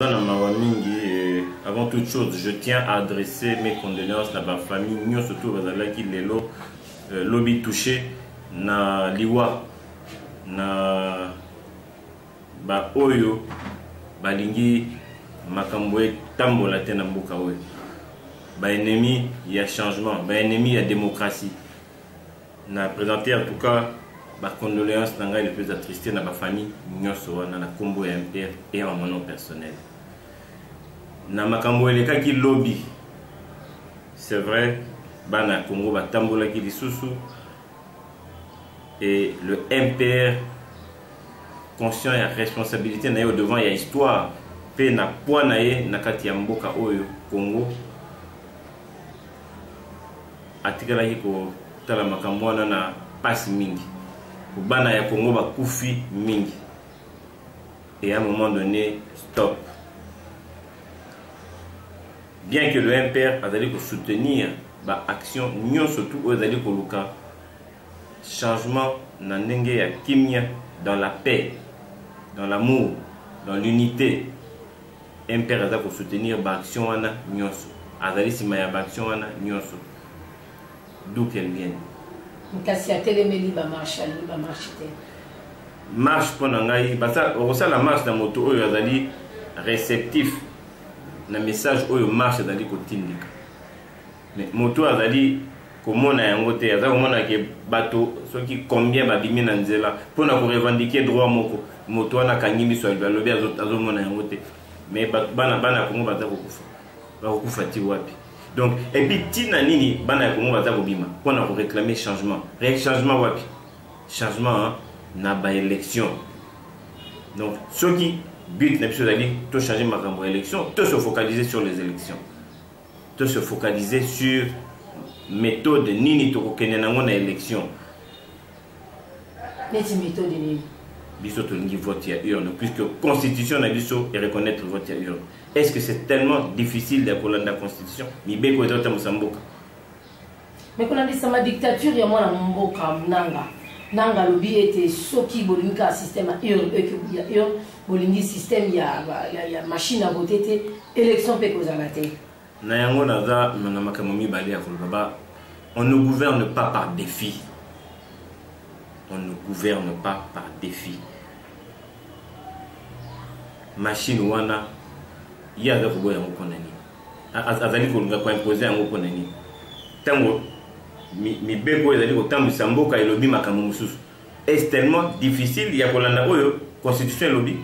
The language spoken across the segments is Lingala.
na mawa mingi eh, avant toute chose je tiens à adresser mes condoléances na bafamille nyonso to bazalaki lelo euh, lobi touche na liwa na baoyo balingi makambo etambola te na mboka oyo baennemi ya changement baennemi ya démocratie na présenter en tout cas ba condoléances na ngai le plus attristé na ba famille nyonso wana na kombo ya MPR et en mon nom personnel na makambo elekaki lobi c'est vrai bana ya Congo batambolaki lisusu et le MPR conscient ya responsabilité na ye devant ya histoire mpe na poids na ye na kati ya mboka oyo Congo Atikalaki kotala makambo wana na pasi mingi. Bana ya Congo bakufi mingi. Et à un moment donné, stop. Bien que le MPR azali ko soutenir ba action nyonso tu oyo ezali koluka changement na ndenge ya kimia dans la paix dans l'amour dans l'unité mpr aza kosoutenir baaction wana nyonso azali nsima ya baaction wana nyonso d'où qu'elle vienne kasi atelemeli bamarche alingi bamarche te marche mpo na ngai okosala marche na moto oyo azali réceptif na message oyo marche ezali kotindika Mais moto azali komona yango te aza komona ke bato soki combien babimi na nzela mpo na korevendiquer droit moko moto wana akangi miso alobi azomona yango te mais bana bana ya kongo baza kokufa bakokufa ti wapi donc epuis ntina nini bana ya kongo baza kobima mpo na koreclame changement changement wapi changement na baélection donc soki but na biso ezali tochange makambo ya élection tosofocalise sur les élections to se focaliser sur méthode nini tokokende nango na élection neti méthode nini biso tolingi vote ya urne puisque constitution na biso ereconnaitre vote ya urne est ce que c'est tellement difficile ya kolanda constitution mibeko ezotambwisa mboka me kolandisama dictature ya mwana mboka nanga nanga alobi ete soki bolingi kaka système ya urne eke ya urne bolingi système ya, ya, ya machine ya vote te élection mpe ekozala te na yango naza na makambo mibale ya koloba ba on ne gouverne pas par défi on ne gouverne pas par défi machine wana ye aza koboya yango mpo na nini azali koluka koimpose yango mpo na nini ntango mibeko ezali kotambwisa mboka elobi makambo mosusu est tellement difficile ya kolanda oyo constitution elobi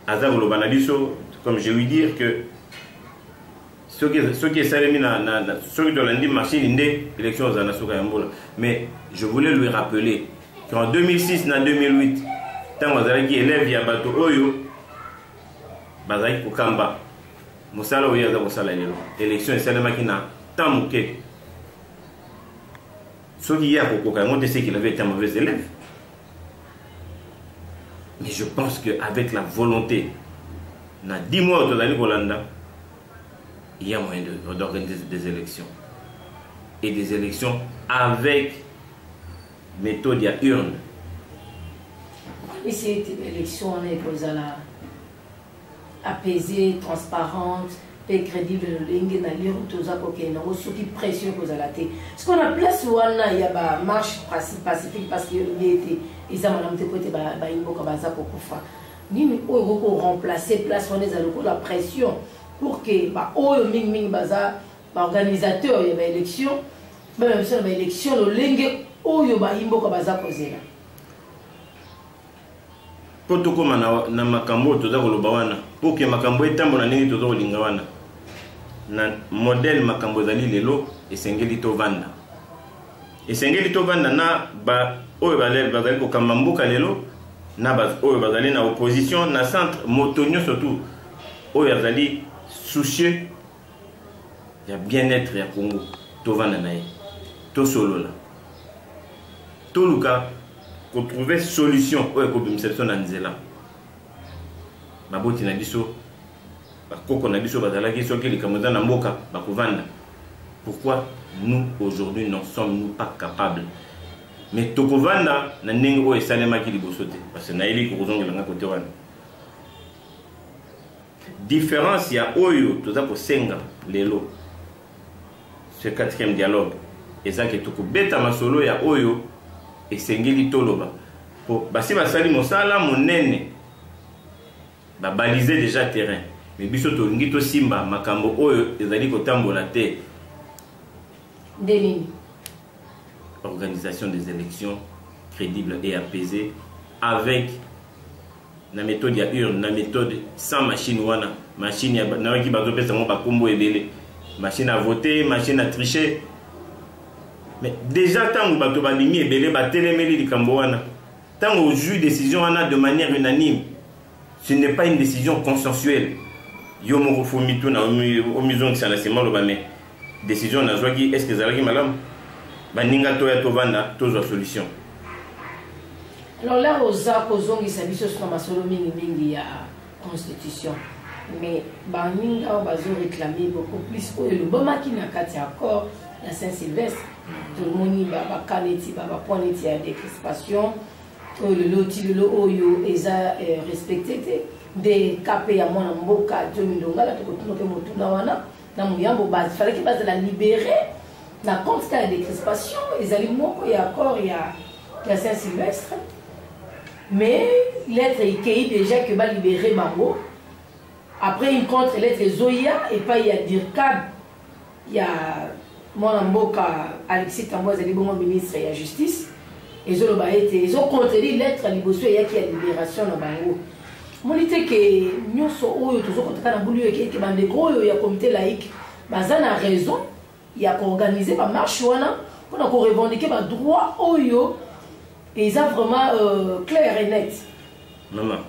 aza koloba na biso comme je lui dire que soki esalemi soki tolandi machine nde élection ozala na suka ya mbula mais je voulais lui rappeler qu'en 2006 na 2008 ntango azalaki élève ya bato oyo bazalaki kokamba mosala oyo aza kosala lelo élection esalemaki na temps moke soki ye akokoka yango te seki lave ete mauvais élève mais je pense que avec la volonté na 10 mois oyo tozali kolanda il y a moyen d'organiser des élections et des élections avec methode ya urne okanisi ete baélection wana ekozala apaisée transparente mpe crédible lolenge na lire toza kokende yango soki pression ekozala te siko na place wana ya bamarche pacifique parce que elobi ete eza malamu te mpo ete bayimboka baza kokufa nini oyo ekoki koremplace place wana eza lokola pression pour que baoyo mingimingi baza ba organisateurs ya ba élections bamema biso na ba élections lolenge oyo bayimboka baza kozela mpo tokóma na, na makambo oyo toza koloba wana mpo ke makambo etambola ndenge toza kolinga wana na modele makambo ezali lelo esengeli tovanda esengeli tovanda na baoyo bazali kokamba mboka lelo na baoyo bazali na opposition na centre moto nyonso tu oyo azali soucieux ya bien-être ya congo tovanda na ye tosolola toluka kotrouve solution oyo ekobimisa biso na nzela baboti na biso bakoko na biso bazalaki soki likambo eza na mboka bakovanda pourquoi nous aujourd'hui n'en sommes nous pas capables mais tokovanda na ndenge oyo esalemaki liboso te parce que nayebi kokozongela ngai kote wana Difference ya oyo toza kosenga lelo ce quatrième dialogue eza ke tokobeta masolo ya oyo esengeli toloba po basi basali mosala monene babalise déjà terrain me biso tolingi tosimba makambo oyo ezali kotambola te nde nini organisation des élections crédible et apaisée avec na methode ya urne na methode sans machine wana machine nayaki bazopesa yango bakombo ebele machine à voter machine à tricher mais déjà ntango bato balingi ebele batelemeli likambo wana ntango ozwi décision wana de manière unanime ce n'est pas une décision consensuelle yo moko fo mituna omizongisa na nsima oloba mais decision nazwaki est ce que ezalaki malamu baninga toya tovanda tozwa solution alors là oza kozongisa biso suna masolo mingi mingi ya constitution mais baninga oyo bazo réclame beaucoup plus oyo elobamaki na kati ya accord ya saint sylvestre tomoni baka neti babapoint neti ya décrispation oyo lelo ti lelo oyo eza eh, respecte te nde kape ya mwana mboka jomi longala tokotuna mpe motuna wana na moyambo base falaki bazala libere na compte kaka décrispation ezali moko ya accord ya, ya saint sylvestre mais lettre ekei déjà que balibere bango après une contre lettre ezoya epai ya dircab ya mwana mboka alexis tambo azali bongo ministre ya justice ezoloba ete ezocontredire lettre liboso eyaki ya libération na bango moni te ke nyonso oyo tozokotaka na bulu eke ete bandeko oyo ya comité laïque baza na raison ya koorganize bamarche wana mpona korevendike badroit oyo eza vraiment euh, clair et net mama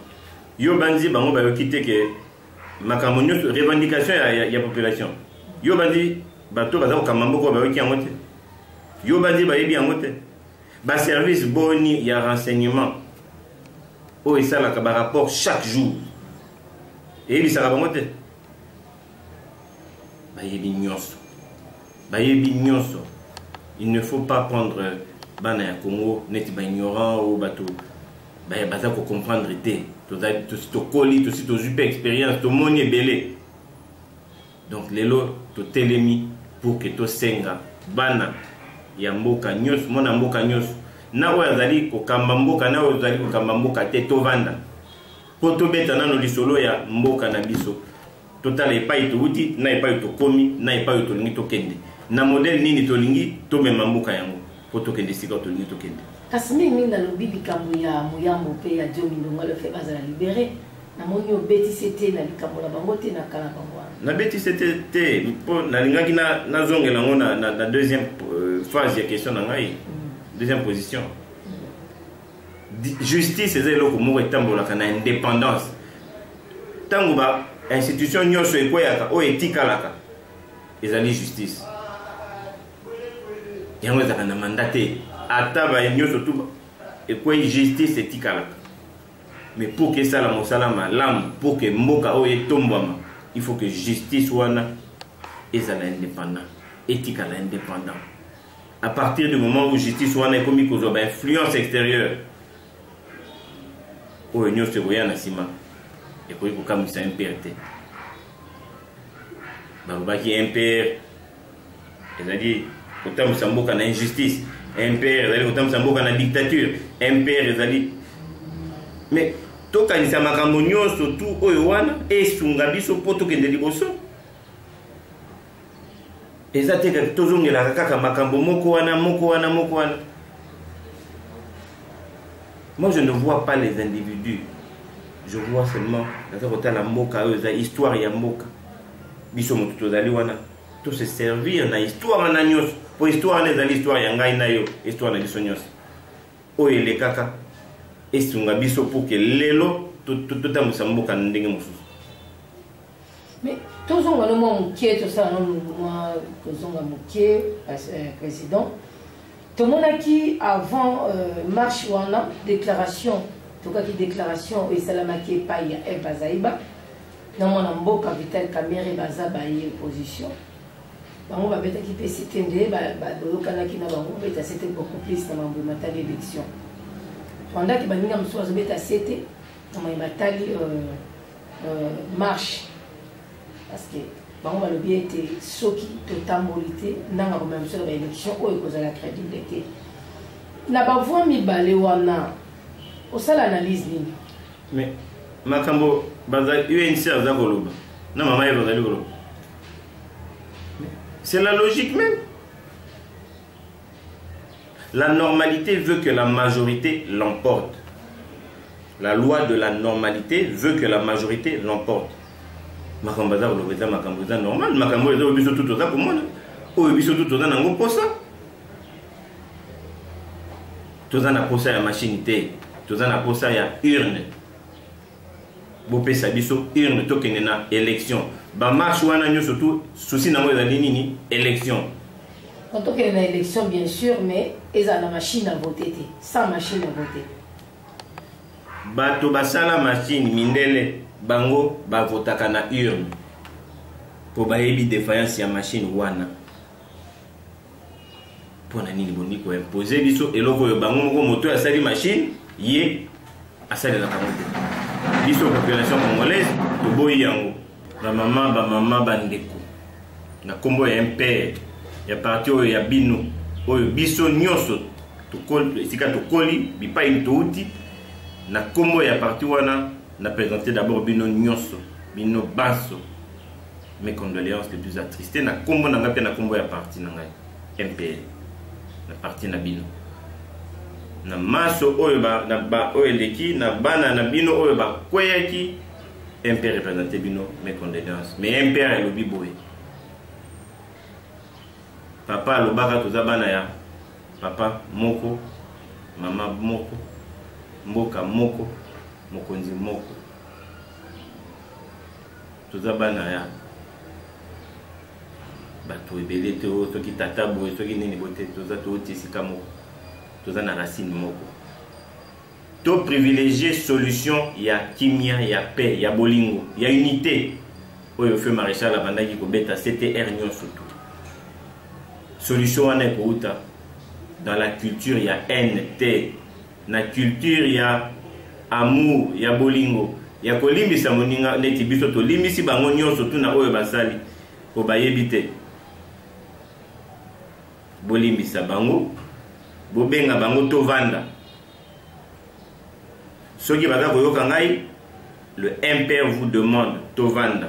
yo banzi bango bayoki te ke makambo nyonso revendication ya, ya, ya population yo bandi bato baza kokamba mboko bayoki yango te yo bandi bayebi yango te baservice boni ya renseignement oyo esalaka barapport chaque jour eyebisaka bango te bayebi nyonso bayebi nyonso il ne faut pas prendre bana ya congo neti baignorant oyo bato baye baza kocomprendre te tosi tokoli tosi tozwi mpe expérience tomoni ebele donc lelo totelemi pour ke tosenga bana ya mboka nyonso mwana mboka nyonso na oyo azali kokamba mboka na oyo azali kokamba mboka te tovanda mpo tobeta nano lisolo ya mboka na biso totala epai touti na epai tokomi na epai oyo tolingi tokende na modele nini tolingi tomema mboka yango mpo tokende esika tolingi tokende kasi mingi mingi nalobi likambo ya moyambo mpe ya diomi ndonga lefe bazala libere namoni obetisi te na likambo na bango te na kala bango wana nabetisi te te mpo nalingaki nazongela yango na, na, na deuxième euh, phase ya question na ngai mm. deuxième position justice eza eloko moko etambolaka na indépendance ntango ba institution nyonso ekweyaka oyo etikalaka ezali justice yango ezalaka na manda te ata baye nyonso tu ekwei justice etikalaka me mpo ke esala mosala malamu mpo ke mboka oyo etombwama il faut que justice wana ezala indépendant etikala indépendant à partir du moment où justice wana ekomi kozwa ba influence extérieure oyo nyonso ekoya na nsima ekoki kokamwisa mpr te balobaki mpr ezali kotambwisa mboka na injustice mpr ezali kotambwisa mboka na dictature mpr ezali mais tokanisa makambo nyonso tu oyo wana esunga biso mpo tokende liboso eza te kaka tozongelaka kaka makambo moko wana moko wana moko wana moi je ne vois pas les individus je vois seulement naza kotala mboka oyo eza histoire ya mboka biso moto tozali wana to se servir na histoire wana nyonso mpo histoire wana ezali histoire ya ngai na yo histoire na biso nyonso oyo elekaka esunga biso mpo ke lelo totambwisa mboka na ndenge mosusu Mais tozonga no mwa moke tosala no mwa kozonga moke euh, président tomonaki avant euh, marche wana déclaration tokaki déclaration oyo esalamaki epai ya eve bazaiba na mwana mboka vital kamere baza baye opposition bango babetaki mpe site nde bayokanaki na bango beta site beaucoup plus na mambo matali élection pendant ke baninga mosusu bazobeta site na maye matali euh, euh, marche parce que bango balobi ete soki totamboli te ndanga komema biso na baélection oyo ekozala crédible te na bavoi mibale wana osala analyse nini mais makambo unc aza koloba na mama ye bazali koloba c'est la logique même La normalité veut que la majorité l'emporte. La loi de la normalité veut que la majorité l'emporte. makambo aza koloba eza makambo eza normal makambo oyo eza oyo biso tu toza komona oyo biso tu toza nango mposa toza na mposa ya mashine te toza na mposa ya urne bopesa biso urne tokende na élection bamarche wana nyonso tu souci nango ezali nini élection tokende na élection bien sûr mais ezala na machine à voter te sans machine à voter bato basala machine mindele bango bavotaka na urne mpo bayebi defiance ya machine wana mpo na nini bolingi koimpose biso eloko oyo bango moko moto oyo asali machine ye asalelaka yango te biso population congolaise toboyi yango bamama bamama bandeko na nkombo ya mpr ya parti oyo ya bino oyo biso nyonso esika tokoli bipai touti na nkombo ya parti wana na présente d'abord bino nyonso bino banso mes condoléances les plus attristés na kombo na ngai mpe na kombo ya parti na ngai mpl na parti na bino na maso oyo ba, na ba oyo eleki na bana na bino oyo bakweyaki mp représente bino mes condoléances mais mp elobi boye papa alobaka toza bana ya papa moko mama moko mboka moko mokonzi moko toza bana ya bato ebele te oyo soki tata boye soki nini boye te toza touti esika moko toza na racine moko to privilégie solution ya kimia ya paix ya bolingo ya unité oyo feu maréchal abandaki kobeta ctr nyonso tu solution wana ekouta dans la culture ya haine te na culture ya amour ya bolingo ya kolimbisa moninga neti biso tolimbisi bango nyonso tuna oyo basali mpo bayebi te bolimbisa bango bobenga bango tovanda soki baza koyoka ngai le impère vous demande tovanda